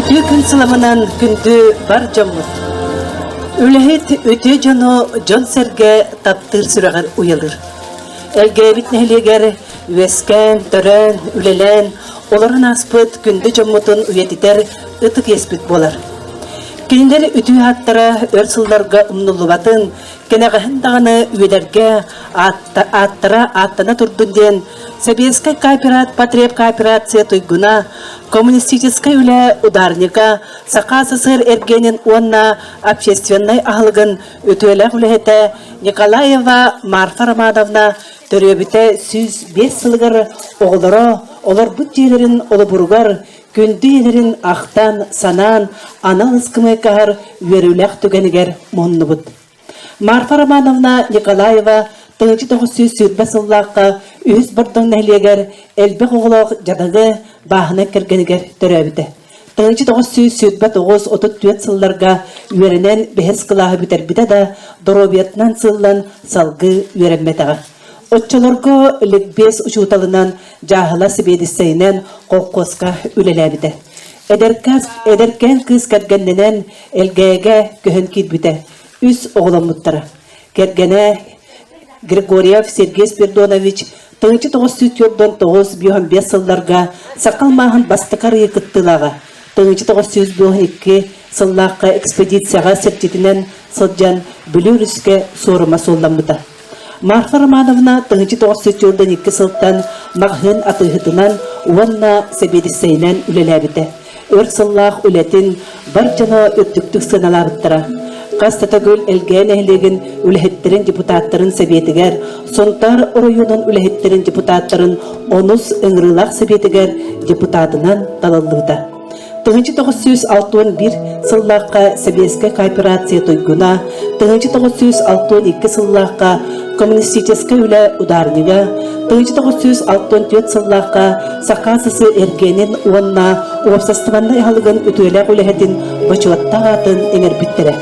Үтүө күн сыламынан күндү бар дьоммут. Үлэһит үтүө дьону дьон-сэргэ таптыыр сүрэҕэр уйалыр. Элгээбит нэһилиэгэр үөскээн, төрөөн, үлэлээн, олорон ааспыт күндү дьоммутун үйэтитэр ытык иэспит буолар. Кинилэр үтүө ааттара өр сылларга умнуллубатын, Кэнэҕэһин даҕаны үөдэргэ ааттара ааттана турдун диэн Сэбиэскэй кооперат потребкооперация туйгуна, коммунистическай үлэ ударнига, Саха СССР эргиэнин уонна общественнай аһылыгын үтүөлээх үлэһитэ Николаева Марфа Романовна төрөөбүтэ сүүс биэс сылыгар оҕолоро олорбут дьиэлэрин олобуругар Күндү ийэлэрин ахтан, санаан, анал ыскамыайкаһар үөрүүлэх түгэнигэр муннубут. Марфа Романовна Николаева тыһыынча тоҕус сүүс сүүрбэ сыллаахха үһүс Бордоҥ нэһилиэгэр элбэх оҕолоох дьадаҕы бааһына кэргэнигэр төрөөбүтэ. Тыһыынча тоҕус сүүс сүүрбэ тоҕус отут түөрт сылларга үөрэнэн бэһис кылааһы бүтэрбитэ да доруобуйатынан сыллан салгыы үөрэммэтэҕэ. Оччолорго ликбез учууталынан, дьааһыла сибиэдиссэйинэн колхозка үлэлээбитэ. Эдэркээн кыыс кэргэннэнэн Элгээгэ көһөн киирбитэ. Үс оҕоломмуттара. Кэргэнэ Григорьев Сергей Спирдонович тыһынча тоҕус сүүс төрдөн тоҕус бион биэс сылларга сакал мааһын бастакы арыйы кыттыылааҕа. Тыһынча тоҕус сүүс дуоһун икки сыллаахха экспедицияҕа сэрчитинэн сылдьан Бүлүү Рүскэ суорума суолламмыта. Марфа Романовна тыһычы тоҕус сөтүөрдэн икки сылтан маҕаһыын атыыһытынан уонна сэбиэдиссэйинэн үлэлээбитэ. Өр сыллаах үлэтин бар дьоно үрдүктүк сыаналаабыттара. Хас Татагүл Элгээн нэһилиэгин үлэһиттэрин депутаттарын сэбиэтигэр, Сунтаар оройуонун үлэһиттэрин депутаттарын онус ыҥырыылаах сэбиэтигэр депутатынан талыллыыта. Тыһыынча тоҕус сүүс алтан бир сыллаахха Сэбиэскэй кооперация туйгуна, тыһыынча тоҕус сүүс алтан икки сыллаахха коммунистическай үлэ ударнига, тыһыынча тоҕус сүүс алтан түөрт сыллаахха Саха СС эргэнин уонна уопсастыбаннай аһылыгын үтүөлэх үлэһитин бочуоттаах аатын эҥэрбиттэрэ.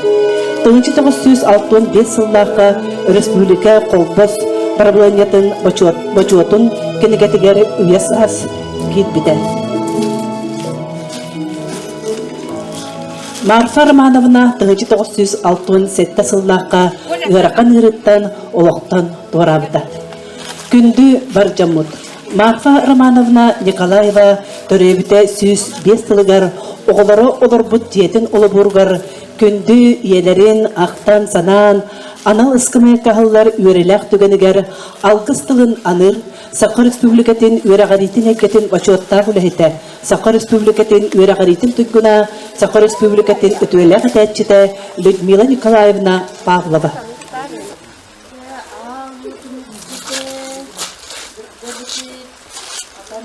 Тыһыынча тоҕус сүүс алтан бир сыллаахха өрөспүүбүлүкэ холбос правлениетын бочуотун кинигэтигэр үйэ саас киирбитэ. Марфа Романовна 1960 сыллаахха ыарахан ыырыттан олохтон туораабыта. Күндү бар дьоммут, Марфа Романовна Николаева төрөөбүтэ сүүс биэс сылыгар оҕолоро олорбут дьиэтин олобуругар күндү ийэлэрин ахтан-санаан анал ыскамыайка аһыллар үөрэлээх түгэнигэр алгыс тылын аныыр Саха Республикатын үөрэҕириитин эйгэтин бочуоттаах үлэһитэ, Саха Республикатын үөрэҕириитин туйгуна, Саха Республикатын үтүөлээх этээччитэ Людмила Николаевна Павлова. Атан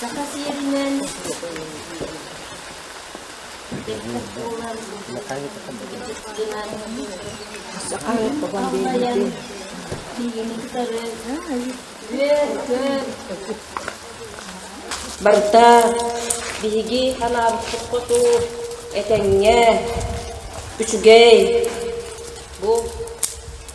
Саха сиэринэн Барыта биһиги анаабыппыт хоту этэҥҥэ, үчүгэй. Бу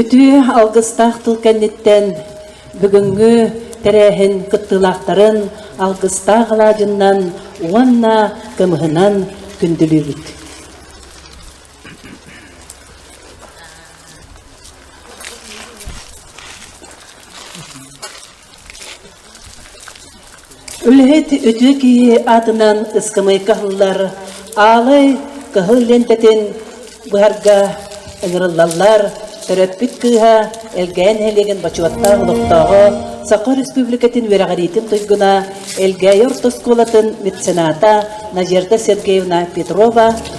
Үтүө алгыстаах тыл кэнниттэн бүгүҥҥү тэрээһин кыттыылаахтарын алгыстаах алаадьыннан уонна кымыһынан күндүлүүбүт. Үлэһит үтүө киһи аатынан ыскамыайка аһыллар аалай кыһыл лиэнтэтин быһарга ыҥырыллаллар төрөппүт кыыһа Элгээйи нэһилиэгин бочуоттаах олохтооҕо, Саха Республикатын үөрэҕириитин туйгуна, Элгээйи орто оскуолатын мецената Надежда Сергеевна Петрова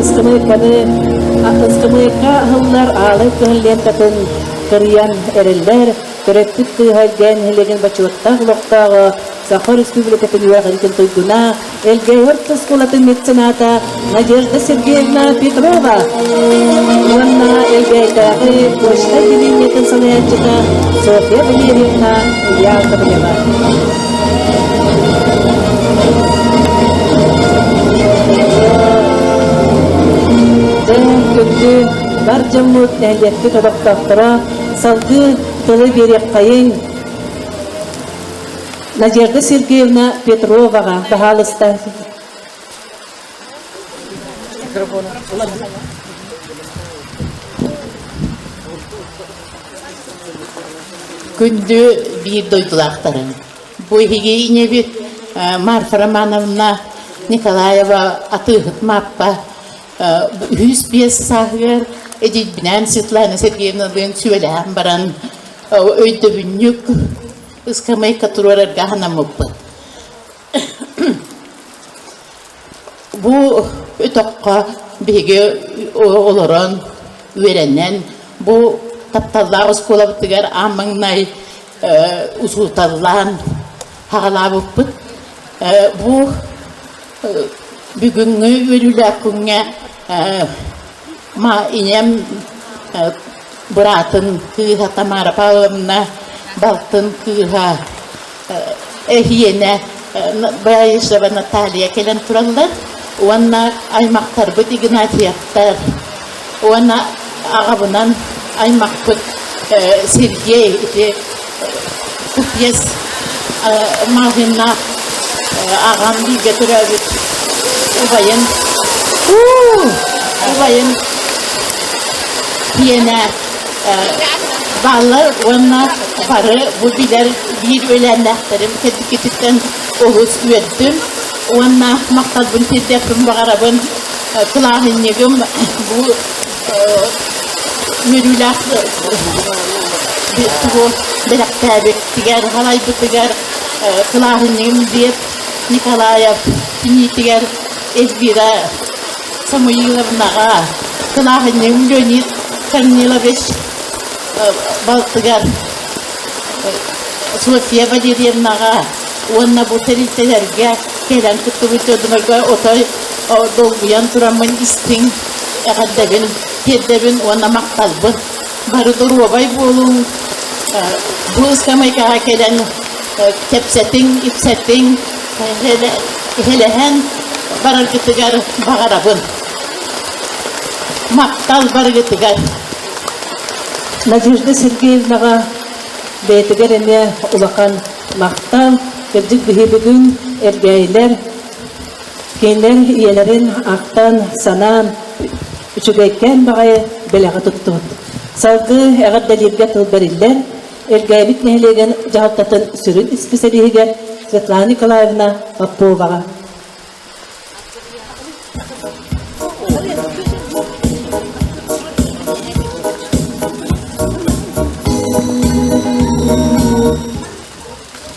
Ыскымыйканы Ыскымыйка аһыллар аалай көһүллиэккатын кырыйан эрэллэр төрөппүт кыыһа дэн нэһилиэгин бочуоттаах олохтооҕо Саха Республикатын үөрэҕин туйгуна Элгэһот оскуолатын мецената Надежда Сергеевна Петрова уонна Элгээйдээҕи почта отделениетын салайааччыта Софья Валерьевна Яковлева. Дьон бар дьоммут нэһилиэкпит олохтоохторо салгыы тылы биэриэххэйин Надежда Сергеевна Петроваҕа хаһаалыста. Күндү биир дойдулаахтарым, бу эһигиинэбит Марфа Романовна Николаева атыыһыт Мааппа үһүс биэс сааһыгар эдьийбинээн Светлана Сергеевналыын сүбэлэһэн баран өйдөбүнньүк ыскамыайка туруорарга анаммыппыт. Бу үтөххө биһиги олорон, үөрэнэн, бу тапталлаах оскуолабытыгар аамаҥнай учууталлаан хаҕалаабыппыт. Бу бүгүҥҥү үөрүүлээх күҥҥэ Ма ийэм э быраатын кыыһа Тамара Павловна, балтын кыыһа э эһиэнэ Баишева Наталья кэлэн тураллар уонна аймахтарбыт Игнатьевтар уонна аҕабынан аймахпыт э Сергей ити Купец маһына аҕам бииргэ төрөөбүт убайын убайын сиэнэ бааллар уонна бары бу билэр биир үөлээннээхтэрим кэнникититтэн олус үөрдүм уонна махталбын тиэрдиэхпин баҕарабын кылааһынньыгым бу үөрүүлээх бэлэхтээбитигэр салайбытыгар кылааһынньыгым диэт Николаев киниитигэр Эльвира Самуиловнаҕа кылааһынньыгым Леонид Корнилович балтыгар София Валерьевнаҕа уонна бу тэрилтэлэргэ кэлэн кыттыбыт дьонумарга отой долгуйан тураммын истиҥ Эҕэрдэбин тиэрдэбин уонна махталбын. Бары доруобай буолуҥ. Бу сэмэйкэҕэ кэлэн кэпсэтиҥ, ипсэтиҥ, иһилэһэн бараргытыгар баҕарабын. Махтал барыгытыгар. Надежда Сергеевнаҕа бэйэтигэр эмиэ улахан махтал. Кырдьык биһиги бүгүн эргээйилэр Кэлэр ийэлэрин ахтан, санаан, үчүгэйкээн баҕайы бэлэҕи туттубут. Салгыы эҕэрдэлииргэ тыл бэриллэр Эргээбит нэһилиэгин дьаһалтатын сүрүн исписэлииһигэр Светлана Николаевна Поповаҕа.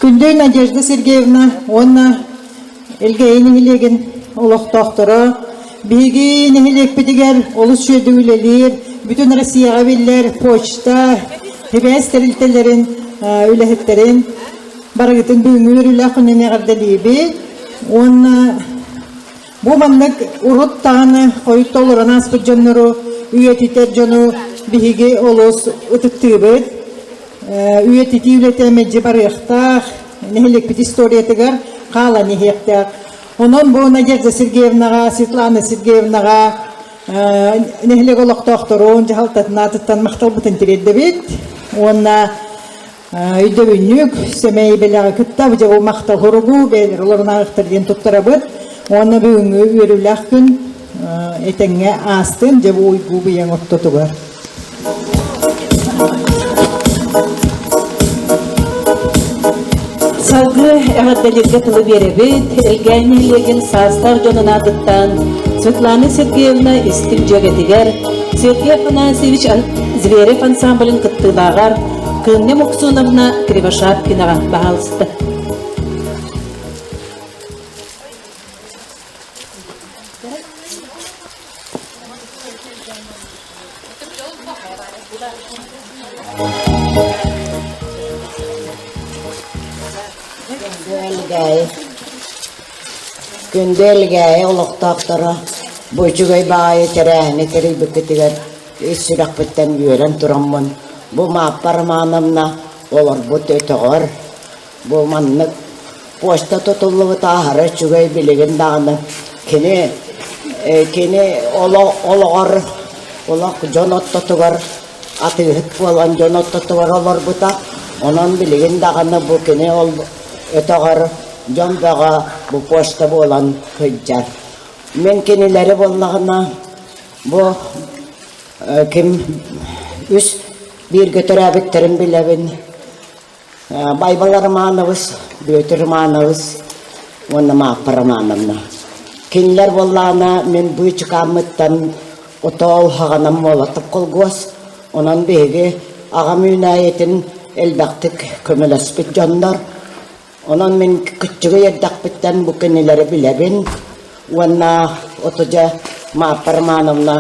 Күндэй Надежда Сергеевна уонна Элгээйи нэһилиэгин олохтоохторо биһиги нэһилиэкпитигэр олус үөрдүү үлэлиир, бүтүн Россияҕа биллэр почта, ХИБС тэрилтэлэрин үлэһиттэрин барыгытын бүгүҥҥү үлэ күнүн эҕэрдэлиибит уонна бу маннык урут даҕаны хойут толорон ааспыт дьоннору үйэтитэр дьону биһиги олус ытыктыыбыт үйэтитии үлэтэ мэлдьи барыахтаах нэһилиэкпит историятыгар хаалан иһиэхтээх. Онон бу Надежда Сергеевнаҕа, Светлана Сергеевнаҕа нэһилиэк олохтоохторун дьаһалтатын аатыттан махталбыт интириэрдэбит уонна өйдөбүнньүк сэмэй бэлэҕи кытта быдьабыл махтал хоругу бэйэлэр олорунааҕыктар диэн туттарабыт уонна бүгүҥҥү үөрүүлээх күн этэҥҥэ аастын дьабу уйгуу быйаҥ ортотугар Салгыы эҕэрдэлииргэ тылы биэрэбит, Элгээн нэһилиэгин саастаах дьонун аатыттан Светлана Сергеевна истиҥ дьүөгэтигэр, Сергей Афанасьевич Зверев ансамблын кыттыылааҕар Кыынньа Муксуновна Кривошапкинаҕа баһаалыста. Күндү Элгээйи олохтоохторо Бочугай баайы тэрээһини тэрийбиккитигэр ис сүрэхпиттэн үөрэн тураммын бу Мааппа Романовна олорбут өтөҕөр Бу маннык почта тутуллубут аһара үчүгэй билигин даҕаны кини кини олох олоҕор олох дьон ортотугар атыыһыт буолан дьон ортотугар олорбута онон билигин даҕаны бу кини ол өтөҕөр дьон бөҕө бу почта буолан сылдьар мин кинилэри буоллаҕына бу ким үс бииргэ төрөөбүттэрин билэбин Байбал Романович, Бүөтүр Романович уонна Мааппа Романовна. Кинилэр буоллаана мин быычыкааммыттан отоол хаганам молоток колгос, онон биһиги агам үүнээйитин элбэхтик көмөлөспүт дьоннор. Онон мин күччүгү ердахпыттан бу кинилэри билэбин. уонна отудьа Мааппа Романовна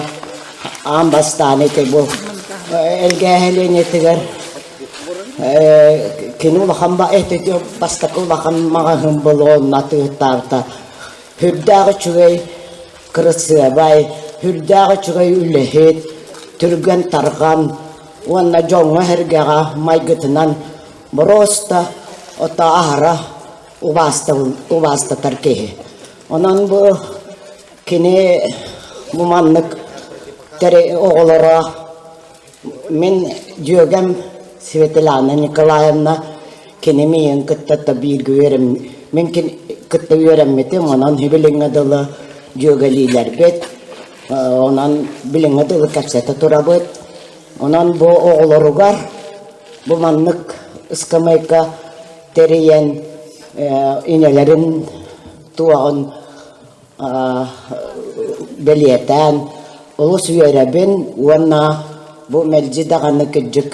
аан бастаан ити бу эргээһилиэнэтигэр кини улахан бастакы улахан маҕаһын болонна тыыртаанта үрдээх үчүгэй кырысыабай үрдээх үчүгэй үлэһит түргэн тарҕан уонна дьоҥҥо эргэҕэ майгытынан бороста ото аһара убаастабын убаастатар киһи. Онон бу кини бу маннык тэри оҕолоро мин дьүөгэм Светлана Николаевна кини миин кытта да бииргэ үөрем мин кытта үөрэммитим онон билиҥҥэ дылы дьүөгэлиилэрбит онон билиҥҥэ дылы кэпсэтэ турабыт онон бу оҕолоругар бу маннык ыскамыайка тэрийэн инэлэрин туоҕун бэлиэтээн олус үөрэбин уонна бу мэлдьи даҕаны кырдьык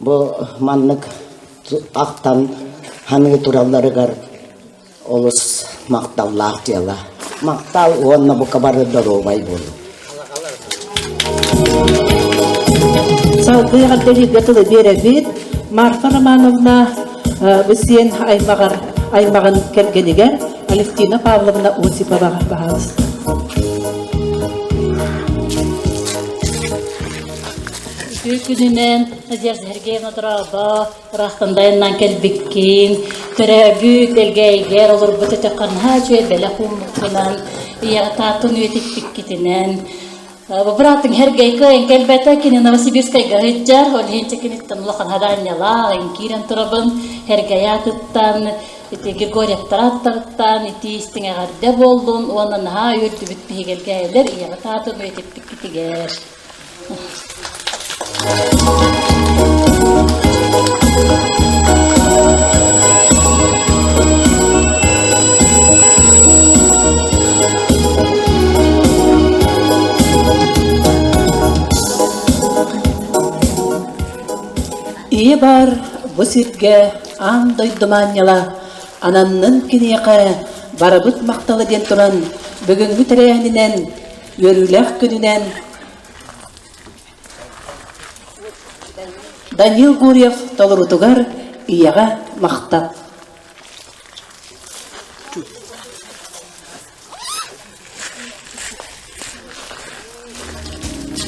бу маннык ахтан ханыы туралларыгар олус махталлаах дьыала. Махтал уонна бука бары доруобай буолу. Салгыы дэлиигэ тылы биэрэбит Марфа Романовна Бысиен аймаҕар аймаҕын кэргэнигэр Алевтина Павловна Осипова баҕаласта. Үтүө күнүнэн Надежда Сергеевна Дорообо, Ыраахтан дайаннаан кэлбиккин, төрөөбүт элгээйигэр олорбут өтөххө наһаа үчүгэй бэлэх ууммуккунан, ийэҕэ таатын үйэтиппиккитинэн, быраатыҥ Хергейка эн кэлбэтэ кини Новосибирскайга ыһыддьар, ол иһин киниттэн улахан хадаанньалаах, эн киирэн турабын, Хергей аатыттан, ити Григорьевтар ааттарыттан, ити истиҥ эҕэрдэ буоллун уонна наһаа үөрдүбүт биһигэлгээйилэр ийэҕэ таатын үйэтиппиккитигэр. Ийэ баар бу сиргэ аан дойду маанньала ананнын киниэхэ барыбыт махтала диэн туран бүгүҥҥү тэрээһининэн Үөрүүлээх күнүнэн Данил Гурьев толорутугар ийэҕэ махтал.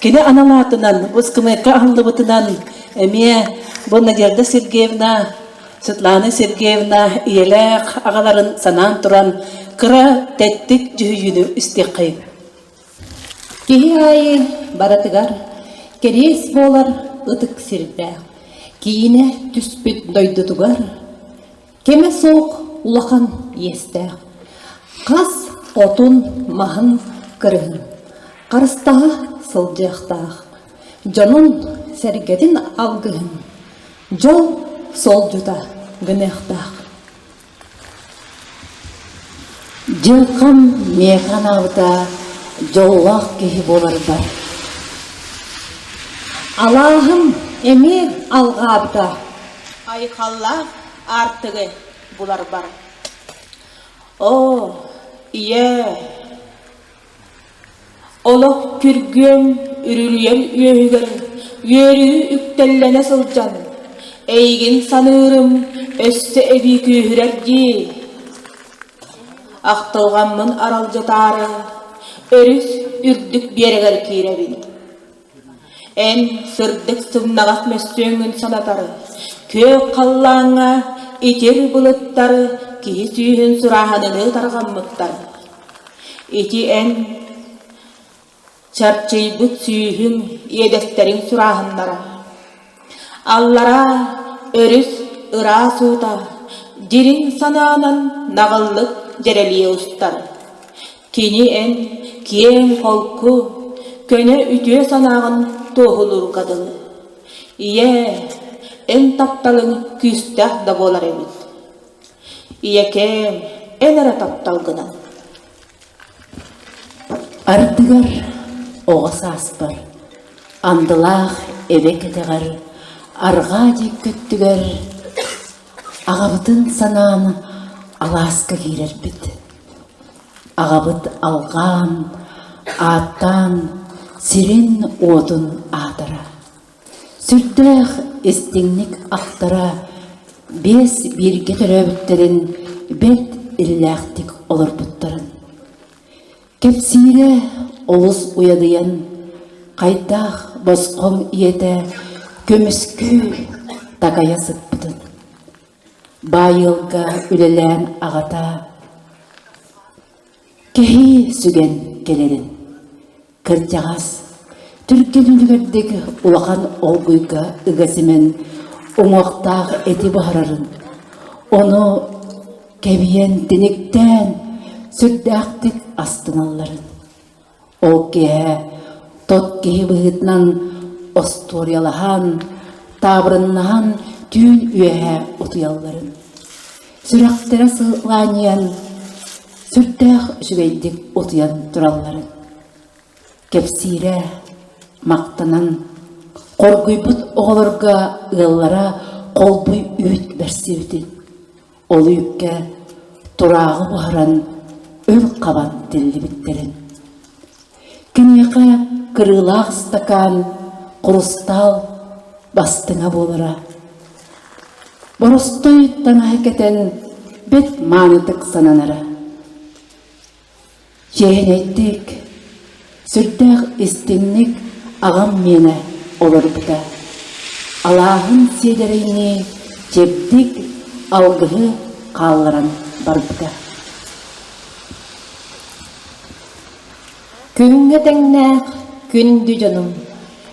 Кини анал аатынан выпускнайга аһыллыбытынан эмиэ бу Надежда Сергеевна, Светлана Сергеевна ийэлээх аҕаларын санаан туран кыра тэттик дьүһүйүүнү истиэххэй. Киһи аайы барытыгар кэриэс буолар ытык сирдээх, киинэ түспүт дойдутугар Кэмэ суох улахан иэстээх, хас хотун маһын кырыһын, харыстаһа сылдьыахтаах, дьонун-сэргэтин алгыһын, дьол солдьута гыныахтаах. Дьылхам миэхэ анаабыта дьоллоох киһи буоларбар. Алааһым эмиэ алҕаабыта. Айхаллаах аартыгы буларбар оо ийээ олох күргүөм үрүрүйэн үөһүгэр үөрүү үктэллэнэ сылдьан эйигин саныырым өссө эбии күүһүрэр дии ахтылҕаммын аралдьытаары өрүс үрдүк биэрэгэр киирэбин Эн сырдык сымнаҕас мөссүөҥҥүн санатары, күөх халлааҥҥа итир былыттары киһи сүүһүн сурааһыныныы тарҕаммыттар. Ити эн чарчыйбыт сүүһүҥ иэдэстэрин сурааһыннара. Аллараа өрүс ыраас уута дириҥ санаанан наҕыллык дьэрэлийэ устар. Кини эн киэҥ-холку, көнө үтүө санааҕын туоһулуурга дылы. Ийээ, эн тапталыҥ күүстээх да буолар эбит. Ийэкээм, эн эрэ таптал гынан. Ардыгар оҕо сааспар, андылаах эбэ кэтэҕэр, арҕаа диэки өттүгэр Аҕабытын санаан алааска киирэрбит. Аҕабыт алҕаан, ааттаан, сирин-уотун аатара. Сүрдээх истиҥник ахтара, биэс бииргэ төрөөбүттэрин бэрт иллээхтик олорбуттарын. Кэпсиирэ олус уйадыйан, хайдах босхоҥ ийэтэ көмүскүүр такайа сыппытын, баайыалга үлэлээн аҕата кэһии сүгэн кэлэрин, кырдьаҕас, түргэн үлүгэрдик улахан олгуйга ыга симэн уҥуохтаах эти буһарарын, ону Кэбийэн тиниктээн сүрдээхтик астыналларын, ол киэһэ тот киһи быһыытынан остуоруйалаһан, таабырыннаһан түүн үөһэ утуйалларын, сүрэхтэрэ сылаанньыйан, сүрдээх үчүгэйдик утуйан туралларын кэпсиирэ, махтанан хоргуйбут оҕолорго ыаллара холбуй үүт бэрсибитин, Ол үүккэ турааҕы буһаран өр хабан тиллибиттэрин. Киниэхэ кырыылаах ыстакаан хрустал бастыҥа буолара. Боростой танаһы кэтэн бэт маанытык сананара. Чээһинэйдик, сүрдээх истиҥник аҕам миэнэ уларыпыта, алааһын сиэдэрэйинии чэбдик алгыһы хаалларан барбыта. Күҥҥэ тэҥнээх күндү дьонум,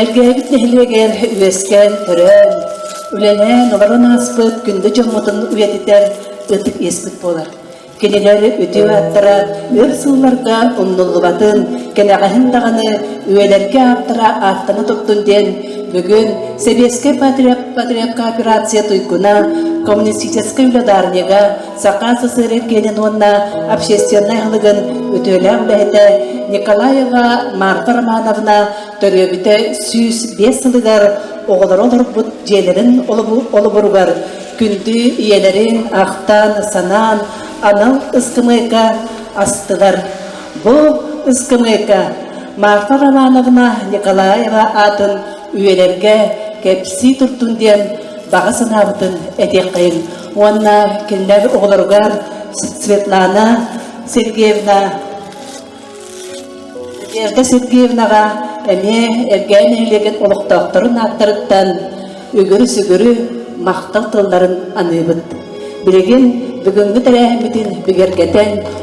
Элгээбит нэһилиэгэр үөскээн, төрөөн, үлэлээн олорон ааспыт күндү дьоммутун үйэтитэр ытык иэспит буолар. Кинилэр үтүө ааттара өр сылларга умнуллубатын, кэнэҕэһин даҕаны үйэлэргэ ааттара ааттана турдун диэн бүгүн Сэбиэскэй патриарх патриарх кооперация туйгуна коммунистическай үлэ даарыйга Саха СССР киэнин уонна общественнай аһылыгын үтүөлээх үлэһитэ Николаева Марта Романовна төрөөбүтэ сүүс биэс сылыгар оҕолоро олорбут дьиэлэрин олобуругар күндү ийэлэрин ахтаан-санаан анал ыскамыайка астылар. Бу ыскамыайка Марта Романовна Николаева аатын үйэлэргэ кэпсии туртун диэн баҕа санаабытын этиэххэйин уонна кинилэр оҕолоругар Светлана Сергеевна Верда Сергеевнаҕа эмиэ эргээн нэһилиэгин олохтоохторун ааттарыттан үгүрү-сүгүрү махтал тылларын аныыбыт. Билигин бүгүҥҥү тэрээһиммитин бигэргэтэн